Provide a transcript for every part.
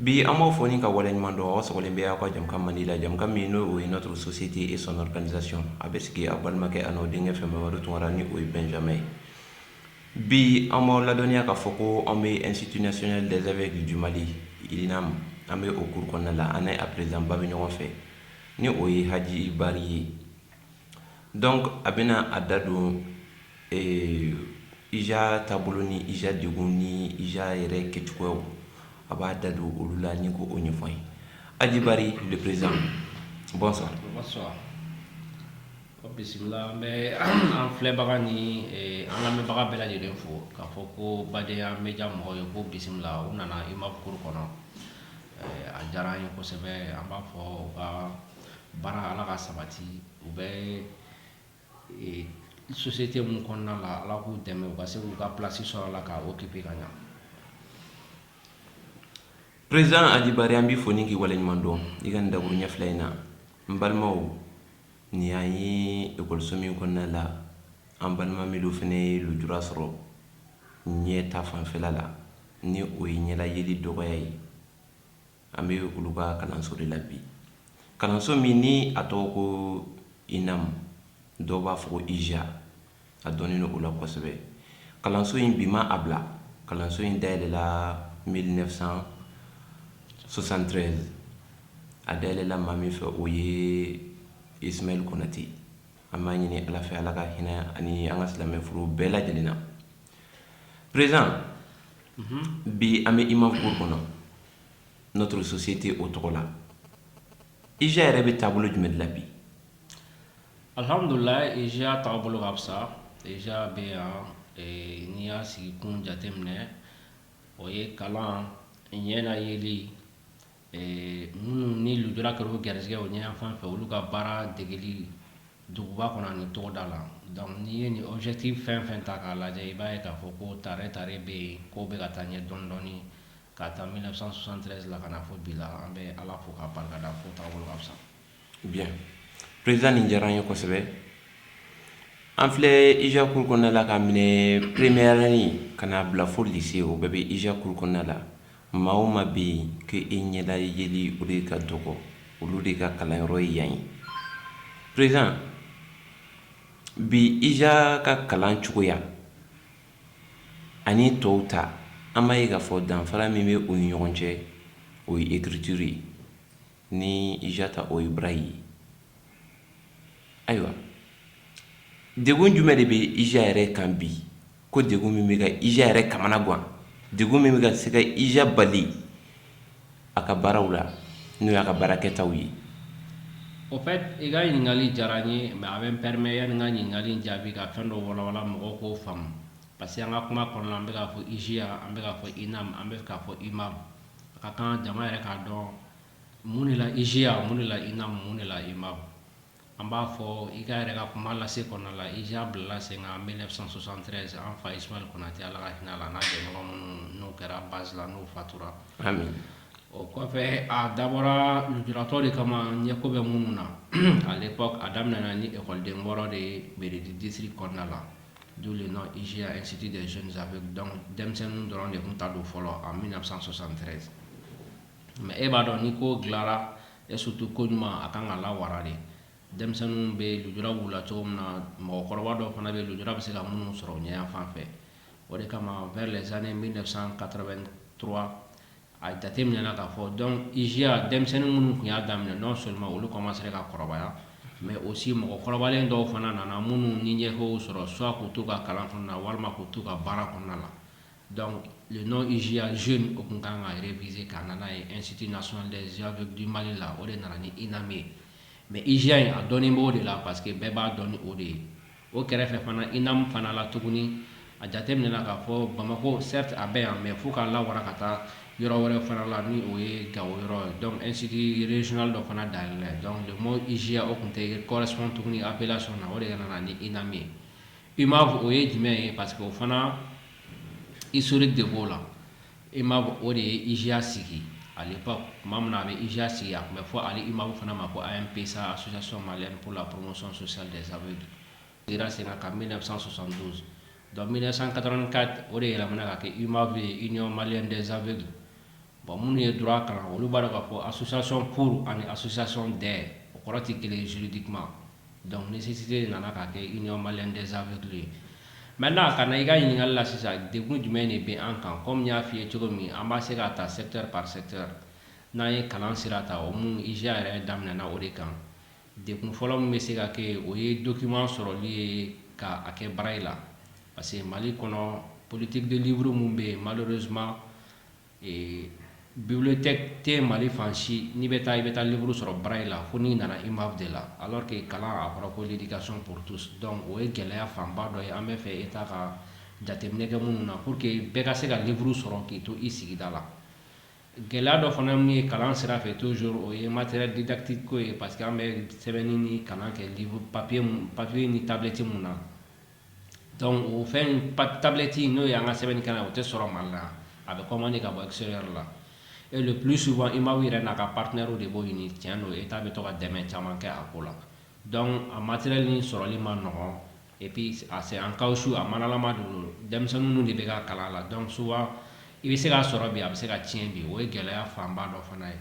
Bi an b'a fɔ ni ka wale ɲuman dɔn sɔgɔlen bɛ aw ka jamana ka mali la jamana min n'o o ye n'o sososite e sɔnkaanisac a bɛ sigi a balimakɛ a n'o denkɛ fɛn wɛrɛ tunra ni o ye bɛnja ye bi an b'aw ladɔnya k'a fɔ ko an bɛ nsittiinasiyɛn dɛsɛsɛ kki j jina ma an bɛ o kuru kɔnɔna la an a perezba bɛ ɲɔgɔn fɛ ni o ye hajibali ye Donc a bɛna a da don ee IJA taabolo ni IJA degun ni IJA yɛrɛ kɛcogoyaw a b'a da don olu la ni k'o ɲɛfɔ an ye, Haji Bari le président bonsoir, bonsoir, bisimila, n bɛ an filɛbaga ni an lamɛnbaga bɛɛ lajɛlen fo k'a fɔ ko Badenya media mɔgɔw ye k'u bisimila u nana UMAV cour kɔnɔ, a diyara an ye kosɛbɛ an b'a fɔ u ka baara ala ka sabati u bɛ société min kɔnɔna la ala k'u dɛmɛ u ka se k'u ka place sɔrɔ a la ka occuper ka ɲɛ président Haji Bari an b'i fo ni k'i waleɲuman dɔn i ka dakuruɲɛ fila in na n balimaw nin y'an ye ekɔliso min kɔnɔna la an balima minnu fana ye lujura sɔrɔ ɲɛ ta fanfɛla la ni o ye ɲɛla yeli dɔgɔya ye An bɛ olu ka kalanso de la bi kalanso min ni a tɔgɔ ko INAM dɔw b'a fɔ ko IJA a dɔnnen o la kosɛbɛ kalanso in bi ma a bila kalanso in da yɛlɛla mil neuf cent soixante-treize a da yɛlɛla maa min fɛ o ye Ismaïla Konaté an b'a ɲini ala fɛ ala ka hinɛ ani an ka silamɛ furɛ bɛɛ lajɛlen na Président bi an bɛ UMAV cour kɔnɔ notre société o tɔgɔ la IJA yɛrɛ bɛ taabolo jumɛn de la bi alihamdulila IJA taabolo ka fisa IJA bɛ yan n'i y'a sigi kun jateminɛ o ye kalan ɲɛna yeli minnu ni lujura kɛra u garisɛgɛ o ɲɛ fan fɛ olu ka baara degeli duguba kɔnɔ ni togoda la donc n'i ye nin objectif fɛn fɛn ta k'a lajɛ i b'a ye k'a fɔ ko tare tare bɛ yen ko bɛ ka taa ɲɛ dɔɔni dɔɔni k'a ta mil neuf cent soixante-treize la ka na fo bi la an bɛ ala fo k'a barikada fo taabolo ka fisa Bien. Président nin diyara an ye kosɛbɛ. An filɛ IJA cour kɔnɔna la k'a minɛ première année ka n'a bila fo lycée o bɛɛ bɛ IJA cour kɔnɔna la. Maa o maa bɛ yen ko i ɲɛla yeli o de ka dɔgɔ olu de ka kalanyɔrɔ ye yan ye. Président bi IJA ka kalan cogoya ani tɔw ta an b'a ye k'a fɔ danfara min bɛ u ni ɲɔgɔn cɛ o ye écriture ye. ni ija ta o ye braille ye ayiwa degun jumɛn de bɛ ija yɛrɛ kan bi ko degun min bɛ ka ija yɛrɛ kamana gan degun min bɛ ka se ka ija bali a ka baaraw la n'o y'a ka baarakɛtaw ye au fait i ka ɲininkali diyara n ye mais a bɛ n permet yanni n ka ɲininkali in jaabi ka fɛn dɔ walawala mɔgɔw k'o faamu parce que an ka kuma kɔnɔna an bɛ k'a fɔ ija an bɛ k'a fɔ inam an bɛ k'a fɔ umav a ka kan jama yɛrɛ k'a dɔn mun de la IJA mun de la INAM mun de la UMAV an b'a fɔ i ka yɛrɛ ka kuma lase kɔnɔna la IJA bilala sen kan 1973 an fa Ismail Konate Ala ka hinɛ a la n'a jɛɲɔgɔn minnu n'u kɛra base la n'u fatura amin o kɔfɛ a dabɔra lujuratɔ de kama ɲɛko bɛ minnu na à l'époque a daminɛna ni ekɔliden wɔɔrɔ de ye mairie du district kɔnɔna la D'où le nom IJA, Institut des Jeunes Aveugles. Donc, denmisɛnninw dɔrɔn de tun ta don fɔlɔ en 1973. Mais e b'a dɔn ni ko dilara et surtout ko ɲuman a kan ka lawara de. Denmisɛnninw bɛ lujura b'u la cogo min na, mɔgɔkɔrɔba dɔw fana bɛ lujura bɛ se ka minnu sɔrɔ ɲɛ yanfan fɛ. O de kama vers les années 1983 A jate minɛna k'a fɔ donc IJA denmisɛnnin minnu tun y'a daminɛ non seulement olu kɔmansera ka kɔrɔbaya mais aussi mɔgɔ kɔrɔbalen dɔw fana nana minnu ni ɲɛkow sɔrɔ soit k'u to u ka kalan kɔnɔna na walima k'u to u ka baara kɔnɔna na donc le nom IJA jeune o tun kan ka réviser ka na n'a ye Institut national des aveugles du Mali la o de nana ni INAM ye mais IJA in a dɔnnen b'o de la parce que bɛɛ b'a dɔn ni o de ye O kɛrɛfɛ fana INAM fana la tuguni, a jate minɛna k'a fɔ Bamakɔ certes a bɛ yan mais fo k'a lawara ka taa yɔrɔ wɛrɛ fana la ni o ye Gao yɔrɔ ye donc institut regional dɔ fana dayɛlɛla yen donc le mot IJA o tun tɛ correspond tuguni appellation na o de nana ni INAM ye UMAV o ye jumɛn ye parce que o fana historique de b'o la. I ma o de ye ijiya sigi ale tuma min a bɛ ijiya sigi a tun bɛ fɔ ali i ma fana ma ko a ye pesa a sososɔ ma ko la porosɔn sɔsan dɛsɛ sababu sera sen ka mi fisasa sɔsan donso don mi san kata ka o de yɛlɛ ka kɛ i ma fɛ i ɲɔn mali dɛsɛsabali bon minnu ye dɔrɔn a kalan olu b'a dɔn k'a fɔ a susason furu ani a susason dɛ o kɔrɔ tɛ kelen zurudi kuma Donc nécessité nana ka kɛ union malienne des aveugles ye maintenant ka na i ka ɲininkali la sisan degun jumɛn de bɛ an kan comme n y'a f'i ye cogo min an b'a se k'a ta secteur par secteur n'an ye kalan sira ta o mun IJA yɛrɛ daminɛna o de kan degun fɔlɔ min bɛ se ka kɛ yen o ye document sɔrɔli ye ka a kɛ braille la parce que Mali kɔnɔ politique de livre min bɛ yen malheureusement Ee bibliothèque tɛ Mali fan si n'i bɛ taa i bɛ taa livre sɔrɔ braille la fo n'i nana UMAV de la alors que kalan a fɔra ko l'éducation pour tous donc o ye gɛlɛya fanba dɔ ye an b'a fɛ Etat ka jateminɛ kɛ minnu na pour que bɛɛ ka se ka livre sɔrɔ k'i to i sigida la gɛlɛya dɔ fana min ye kalan sira fɛ toujours o ye matériel didactique ko ye parce que an bɛ sɛbɛnni ni kalan kɛ papier papier ni tablette minnu na o fɛn tablette n'o y'an ka sɛbɛnnikɛlan o tɛ sɔrɔ Mali la a bɛ commandé ka bɔ extérieur la et le plus souvent UMAV yɛrɛ n'a ka partenairew de b'o ɲini tiɲɛ don Etat bɛ to ka dɛmɛ caman kɛ a ko la a matériel nin sɔrɔli man nɔgɔn et puis c'est en caoutchouc a manalama don denmisɛnnin de bɛ ka kalan la donc souvent i bɛ se k'a sɔrɔ bi a bɛ se ka tiɲɛ bi o ye gɛlɛya fanba dɔ fana ye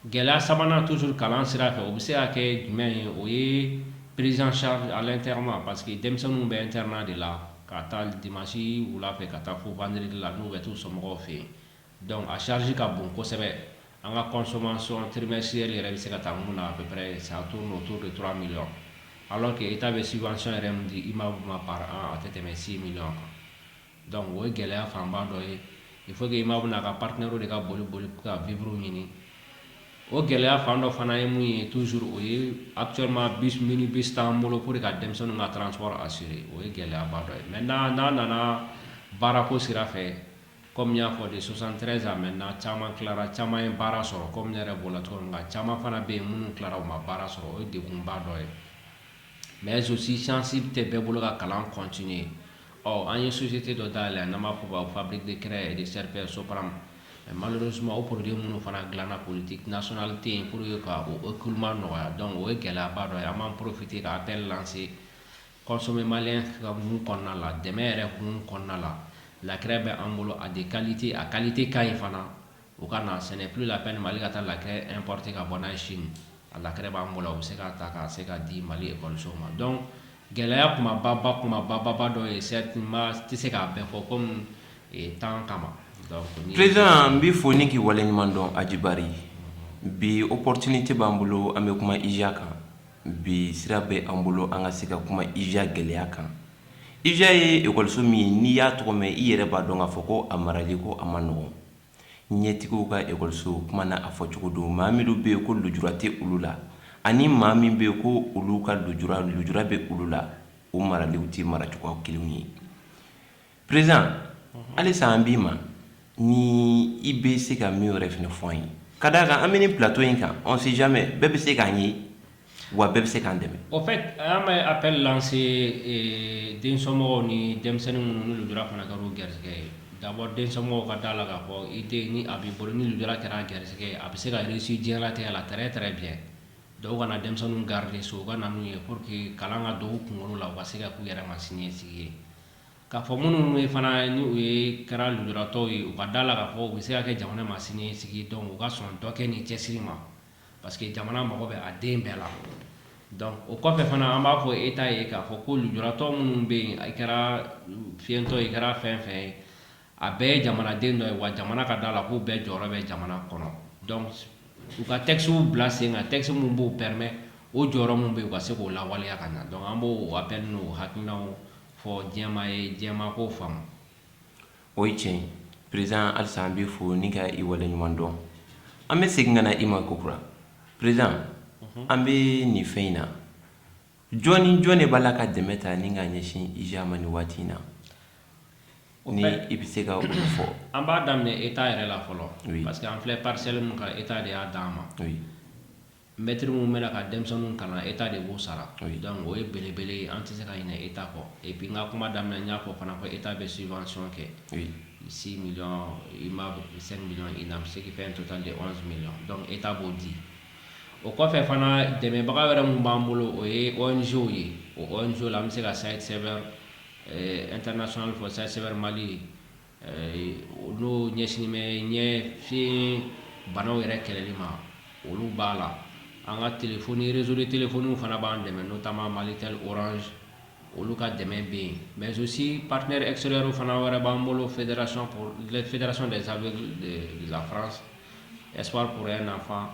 Gɛlɛya sabanan toujours kalan sira fɛ, o bɛ se ka kɛ jumɛn ye? O ye prise en charge à l'internat parce que denmisɛnninw bɛ internat de la k'a ta dimanche wula fɛ ka taa fo vendredi la n'u bɛ t'u somɔgɔw fɛ yen donc a charge ka bon kosɛbɛ, an ka consommation trimestrielle yɛrɛ bɛ se ka taa mun na à peu près ça tourne autour de 3 millions alors que Etat bɛ subvention yɛrɛ min di UMAV ma par an a tɛ tɛmɛ 6 millions kan. Donc o ye gɛlɛya fanba dɔ ye il faut UMAV n'a ka partenairew de ka boli boli ka vivre ɲini o gɛlɛya fan dɔ fana ye mun ye toujours o ye actuellement bus bus t'an bolo pour ka denmisɛnninw ka transport assurer o ye gɛlɛyaba dɔ ye maintenant n'a nana baarako sira fɛ kɔmi n y'a fɔ de 73 à maintenant caman tilara caman ye baara sɔrɔ kɔmi ne yɛrɛ bɔra cogo min nka caman fana bɛ yen minnu tilara u ma baara sɔrɔ o ye degunba dɔ ye mais aussi chance tɛ bɛɛ bolo ka kalan continuer Ɔ an ye susite dɔ da la n b'a fɔ b'a fabiri de kɛra de sɛp sopra mali suma o porote minnu fana dilanna polite tɛna sɔnli tɛ yen pur ye ka o kuma nɔgɔya dɔn o ye gɛlɛyaba dɔ ye an b'an porofite ka a bɛɛ lase kɔsɔmɛ mali ka minnu kɔnɔna la dɛmɛ yɛrɛ kun kɔnɔna la lakira bɛ an bolo a de kalilite a kalilite ka ɲi fana u ka na ce n'est plus la peine Mali ka taa la craie importer ka bɔ en Chine a la craie b'an bolo u bɛ se ka ta ka se ka di Mali ekɔlisow ma donc gɛlɛya kunbaba kunbaba dɔ ye certainement tɛ se k'a bɛɛ fɔ kɔmi temps kama président n b'i fo ni k'i waleɲuman dɔn ajibari ye bi opportunité b'an bolo an bɛ kuma IJA kan bi sira bɛ an bolo an ka se ka kuma IJA gɛlɛya kan IJA ye ekɔliso min ye n'i y'a tɔgɔ mɛn i yɛrɛ b'a dɔn k'a fɔ ko a marali ko a man nɔgɔn Ɲɛtigiw ka ekɔliso kuma na a fɔcogo don, maa minnu bɛ yen ko lujura tɛ olu la ani maa min bɛ yen ko olu ka lujura lujura bɛ olu la, o maraliw tɛ maracogo kelenw ye. Président halisa an b'i ma ni i bɛ se ka min wɛrɛ fana fɔ an ye, ka d'a kan an bɛ nin plateau in kan on sait jamais bɛɛ bɛ se k'an ye. Wa bɛɛ bɛ se k'an dɛmɛ au fait an bɛ appel lancer densomɔgɔw ni denmisɛnnin minnu lujura fana kɛra u garisɛgɛ ye d'abord densomɔgɔw ka d'a la k'a fɔ i den ni a b'i bolo ni lujura kɛra a garisɛgɛ ye a bɛ se ka réussir diɲɛlatigɛ la très très bien dɔw kana denmisɛnnin garder so u ka na n'u ye pour que kalan ka don u kunkolo la u ka se ka k'u yɛrɛ ma siniɲɛsigi ye k'a fɔ minnu ye fana ni u ye kɛra lujuratɔ ye u ka d'a la k'a fɔ u bɛ se ka kɛ jamana ma siniɲɛsigi donc u ka sɔn dɔ kɛ ni cɛsiri ma parce que jamana mago bɛ a den bɛɛ la donc o kɔfɛ fana an b'a fɔ État ye k'a fɔ ko lujuratɔ minnu bɛ yen i kɛra fiyentɔ i kɛra fɛn fɛn ye a bɛɛ ye jamanaden dɔ ye wa jamana ka d'a la k'u bɛɛ jɔyɔrɔ bɛ jamana kɔnɔ donc u ka textes bila sen kan texte minnu b'o permet o jɔyɔrɔ minnu bɛ yen u ka se k'o lawaleya ka ɲa donc an b'o appel n'o hakilinaw fɔ diɲɛmaa ye diɲɛmaa k'o faamu O ye tiɲɛ président Alisa an b'i fo ni ka i waleɲuman dɔn an bɛ segin ka na i ma ko kura président an bɛ nin fɛn in na jɔn ni jɔn de b'a la ka dɛmɛ ta ni ka ɲɛsin IJA ma nin waati in na ni i bɛ se k'a fɔ an b'a daminɛ État yɛrɛ la fɔlɔ parce que an filɛ parcelle min kan État de y'a di an ma Mɛtiri minnu bɛna ka denmisɛnninw kalan e ta de b'o sara dɔn o ye belebele an tɛ se ka ɲini e ta kɔ e bin ka kuma daminɛ n y'a fɔ fana ko e ta bɛ sifasɔn kɛ si mi i ma se mi i na se fɛn to tan de mi dɔn e ta b'o di o kɔfɛ fana dɛmɛbaga wɛrɛ minnu b'an bolo o ye wzw ye ozo la an bɛ se ka sayi sɛbɛn n terir sɔn fɔ sayi sɛbɛnbɛrɛ mali ye olu ɲɛsin bɛ ɲɛ fi banaw yɛrɛ kɛlɛli ma olu b'a la an ka tf rezoli tf fana b'an dɛmɛ n'o taama mali tɛ oranz olu ka dɛmɛ bɛ yen mɛzosi patiɛ esrro fana wɛrɛ b'an bolo fɛdrrason de sa lafran esrro nafa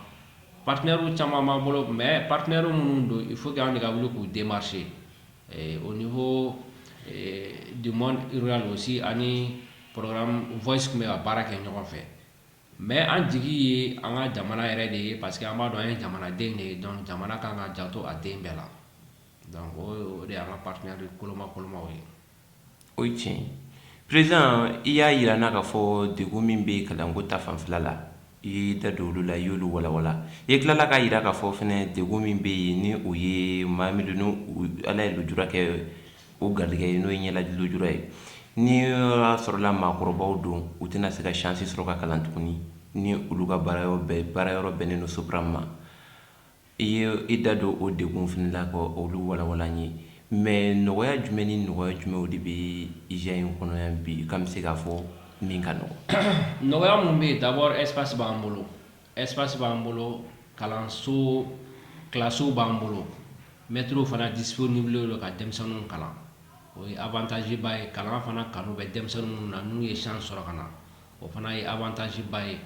patiinabu caman b'an bolo mɛ patiinabu minnu don i fo' an de ka wuli k'u denmasi au niveau du monde rural aussi ani programme Voice tun bɛ ka baara kɛ ɲɔgɔn fɛ mais an jigi ye an ka jamana yɛrɛ de ye parce que an b'a dɔn an ye jamanaden de ye donc jamana kan ka janto a den bɛɛ la donc o de y'an ka partenaire kolomakolomaw ye O ye tiɲɛ ye président i y'a jira an na k'a fɔ degun min bɛ kalanko ta fanfɛla la i y'i da don olu la i y'olu walawala i tilala k'a jira k'a fɔ fana degun min bɛ yen ni o ye maa min don ni ala ye lujura kɛ o garijɛgɛ ye n'o ye ɲɛlaji lujura ye ni y'a sɔrɔla maakɔrɔbaw don u tɛna se ka chance sɔrɔ ka kalan tuguni ni olu ka baarayɔrɔ bɛɛ baarayɔrɔ bɛnnen don Sopram ma I ye i da don o degun fana la ka olu walawala an ye mais nɔgɔya jumɛn ni nɔgɔya jumɛnw de bɛ IJA in kɔnɔ yan bi k'an bɛ se k'a fɔ min ka nɔgɔn? Nɔgɔya minnu bɛ yen d'abord espace b'an bolo espace b'an bolo kalanso kilasiw b'an bolo mɛtiriw fana disponible don ka denmisɛnninw kalan o ye avantage ba ye kalan fana kanu bɛ denmisɛnnin minnu na n'u ye chance sɔrɔ ka na o fana ye avantage ba ye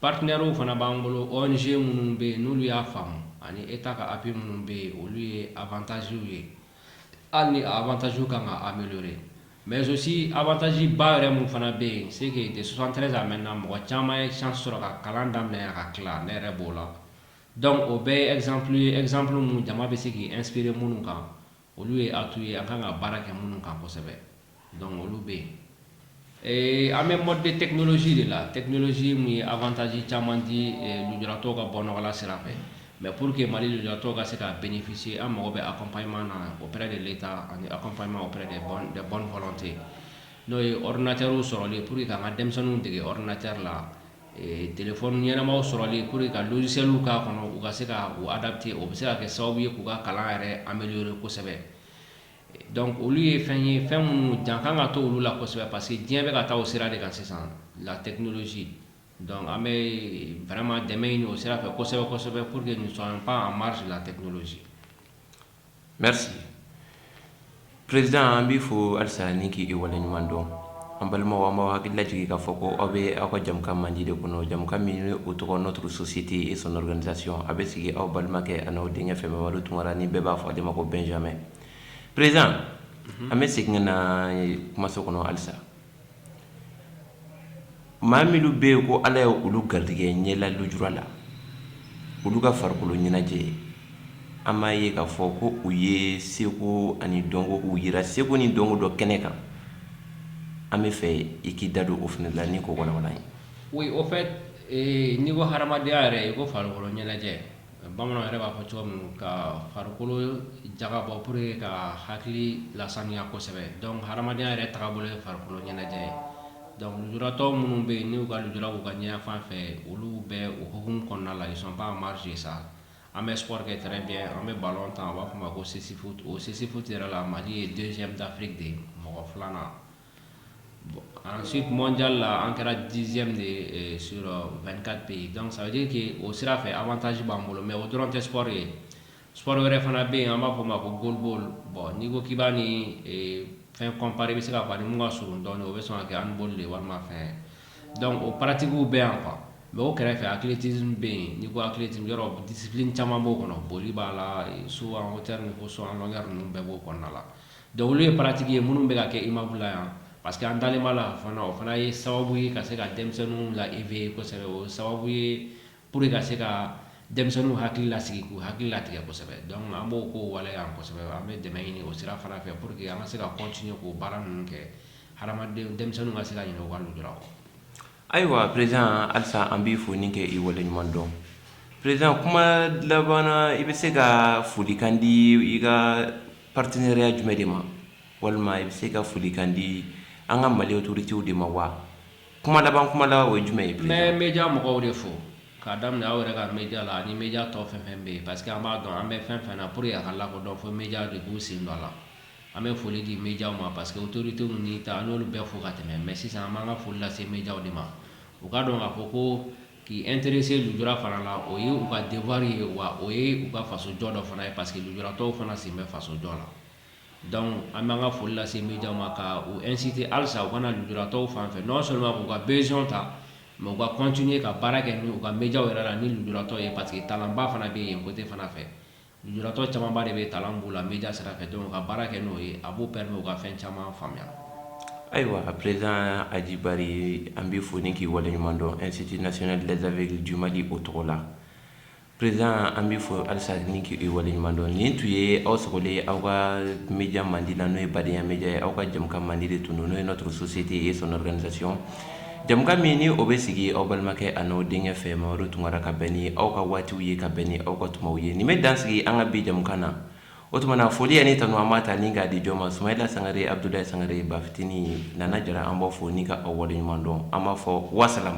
Partenaires fana b'an bolo ONG minnu bɛ yen n'olu y'a faamu ani Etat ka appui minnu bɛ yen olu ye avantages ye hali ni a avantages kan ka ameliorer mais aussi avantage ba yɛrɛ min fana bɛ yen c'est que de 73 à maintenant mɔgɔ caman ye chance sɔrɔ ka kalan daminɛ yan ka tila ne yɛrɛ b'o la donc o bɛɛ ye exemple ye exemple minnu jama bɛ se k'i inspirer minnu kan olu ye a tu ye a kan ka baara kɛ minnu kan kosɛbɛ dɔn olu bɛ yen ee an bɛ mɔden tɛsi de la tɛsi min ye ataz caman di jtɔ ka bɔ nɔgɔla sira fɛ mɛ pur que mali jtɔ ka se k ka bɛnfisi an mago bɛ a kɔnpy na o de bɛ taa ani a kɔnpma o bɔnfɔlɔ tɛ yen n'o ye rinacɛw sɔrɔ pur que ka ka denmisɛnninw dege rinacɛri la ɲɛnamaw sɔrɔli pour que ka logicielw k'a kɔnɔ u ka se ka u adapter o bɛ se ka kɛ sababu ye k'u ka kalan yɛrɛ améliorer kosɛbɛ donc olu ye fɛn ye fɛn minnu jan kan ka to olu la kosɛbɛ parce que diɲɛ bɛ ka taa o sira de kan sisan la technologie donc an bɛ vraiment dɛmɛ ɲini o sira fɛ kosɛbɛ kosɛbɛ pour que nous soyons pas en marge de la technologie merci président an b'i fo halisa ni k'i waleɲuman dɔn an balimaw an b'aw hakili lajigin k'a fɔ ko aw bɛ aw ka jamukan mandi de kɔnɔ jamukan min ni o tɔgɔ notre société et son organisation a bɛ sigi aw balimakɛ an'aw denkɛ fɛ mamadu tunkara ni bɛɛ b'a fɔ ale ma ko benjamin président an bɛ segin ka na kumaso kɔnɔ halisa maa minnu bɛ yen ko ala ye olu garijɛgɛ ɲɛla lujura la olu ka farikolo ɲɛnajɛ an b'a ye k'a fɔ ko u ye seko ani dɔnko u yira seko ni dɔnko dɔ kɛnɛ kan an bɛ fɛ i k'i da don o fana la ni k'o walawala an ye oui au fait n'i ko hadamadenya yɛrɛ i ko farikolo ɲɛnajɛ Bamananw yɛrɛ b'a fɔ cogo min ka farikolo jagabɔ pour que ka hakili lasaniya kosɛbɛ donc hadamadenya yɛrɛ tagabolo ye farikolo ɲɛnajɛ ye donc lujuratɔ minnu bɛ yen n'u ka lujura k'u ka ɲɛ yanfan fɛ olu bɛ o hukumu kɔnɔna la ils sont pas en marge de ça an bɛ sport kɛ très bien an bɛ ballon tan u b'a fɔ o ma ko cécifoot o cécifoot yɛrɛ la Mali ye deuxième d'Afrique de mɔgɔ filanan an si mɔnja la an kɛra diz de s vka pe yen dɔnkucke kɛ o sira fɛ an bɛ taasi b'an bolo mɛ o dɔrɔn tɛ sɔɔri ye s wɛrɛ fana bɛ yen an b'a fɔ o ma ko bolibo bɔn n'i ko k'ba ni fɛn kɔnpri bɛ se ka ban ka s dɔn o bɛ sɔn kɛ an boli de walima fɛ dɔnku o patigiw bɛ yan kuwa mɛ o kɛrɛfɛ akiti bɛ yen ni ko hakili disip caman b'o kɔnɔ boli b'a la so an ko tɛ ko so an ka ninnu bɛɛ b'o kɔnɔna la Donc olu ye pratique ye minnu bɛ ka kɛ UMAV la yan parce que an dalen b'a la fana o fana ye sababu ye ka se ka denmisɛnninw la éveiller kosɛbɛ o sababu ye pour que ka se ka denmisɛnninw hakili lasigi k'u hakili latigɛ kosɛbɛ donc an b'o kow waleya kosɛbɛ an bɛ dɛmɛ ɲini o sira fana fɛ pour que an ka se ka continuer k'o baara ninnu kɛ hadamadenw denmisɛnninw ka se ka ɲinɛ u ka lujura kɔ Ayiwa président halisa an b'i fo ni k'i wale ɲuman dɔn président kuma laban na i bɛ se ka folikan di i ka partenariat jumɛn de ma walima i bɛ se ka folikan di an ka Mali autoritéw de ma wa kuma laban kuma laban o ye jumɛn ye n bɛ média mɔgɔw de fo k'a daminɛ aw yɛrɛ ka média la ani média tɔ fɛn fɛn bɛ yen parce que an b'a dɔn an bɛ fɛn fɛn na pour que a ka lakodɔn fo média de k'u sen don a la An bɛ foli di média ma parce que autorités ninnu ta an y'olu bɛɛ fo ka tɛmɛ mais sisan an b'an ka foli lase média de ma u k'a dɔn k'a fɔ ko k'i intéresser lujura fana la o ye u ka devoir ye wa o ye u ka faso jɔ dɔ fana ye parce que lujuratɔw fana sen bɛ faso jɔ la donc an b'an ka foli lase média ma ka u inciter halisa u ka na lujuratɔw fan fɛ non seulement k'u ka besoin ta mais u ka continuer ka baara kɛ ni u ka média yɛrɛ la ni lujuratɔ ye parce que talentba fana bɛ yen yen côté fana fɛ Jtɔ camanba de bɛ kalan b' la n bɛja sira fɛ dɔn ka baara kɛ n'o ye a b'o bɛɛ min u ka fɛn caman faamuya ayiwa a pz ajibaa ye an bɛ fɔ ni k'i waleɲuman dɔn ɛsiti nas dezali juma di o tɔgɔ la prez an bɛ fɔ alisa ni k'i waleɲuman dɔn nin tun ye aw sago de aw ka mja mandi la n'o ye badenyaya mja ye aw ka jamana mandi de tun don n'o ye na dɔrɔnsosi tɛ ye sɔn wɛrɛdasi jɛmukan min ni o bɛ sigi aw balimakɛ a n'aw denkɛ fɛ Mamadu Tunkara ka bɛn ni aw ka waatiw ye ka bɛn ni aw ka tumaw ye nin bɛ dan sigi an ka bi jɛmukan na o tuma na foli ani tanu an b'a ta ni k'a di jɔn ma Sumayila Sangare Abudulayi Sangare Bafitini Nana Jara an b'aw fo ni ka aw wale ɲuman dɔn an b'a fɔ wasalam